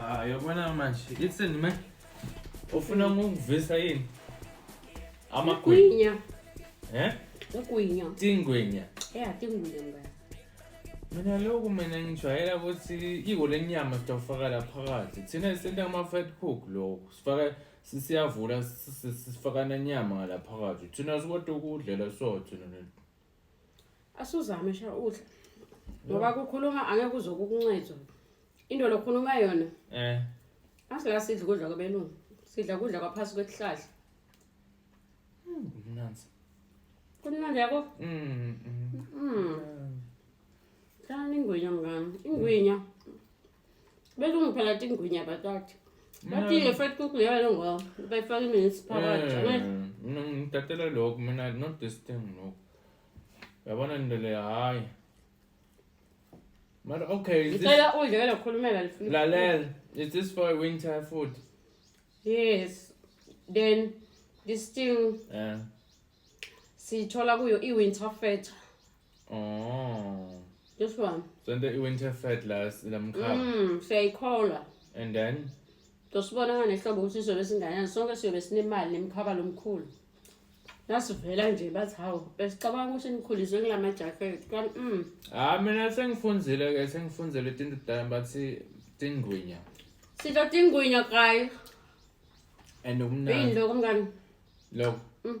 Ah, yabona manje. Ithini me? Ufuna ngokuvisa yini? Amagwinya. Gwinya. Eh? Ugwinya. Tingwinya. Yeah, tingwinya mngani. Mina lokhu mina ngijwayela ukuthi iko lenyama sitawufaka la phakathi. Thina senta ama fat cook lokhu. Sifaka sisiyavula sifaka nenyama ngala phakathi. Thina sikodwa ukudlela so thina. asuzame sha udla ngoba kukhuluma angeke uzokukuncedwa into lokhuluma yona eh asila sidla ukudla kwabelungu sidla ukudla kwaphasi kwesihlahla hmm, kumnandi kumnandi yabo mm mm, mm. ingwinya mngani ingwinya mm. belungiphela tingwinya batata batile fat kukuyalo ngo bayifaka iminsi phakathi eh, mina ngidatela lokho mina not this thing lokho yabona ndele hayi mara okay is this, ngicela udle ke lokhulumela lifuna lalela is this for winter food yes then this thing yeah. siyithola kuyo i-winter feta Oh. This one. Sente i-winter fat last lamkhaba. Mm, siyayikholwa. And then Tosibona nganehlobo ukuthi sizobe singanani. Sonke siyobe sinemali nemkhaba lomkhulu. Nasivela nje bathi hawu besicabanga ukuthi nikhuliswe kulama jacket. Kanti mm. ah mina sengifunzile ke sengifunzile itinto kudala bathi tingwinya. Sithatha ingwinya kayi. And Yini umnandi lokho mngani? lokho Mm.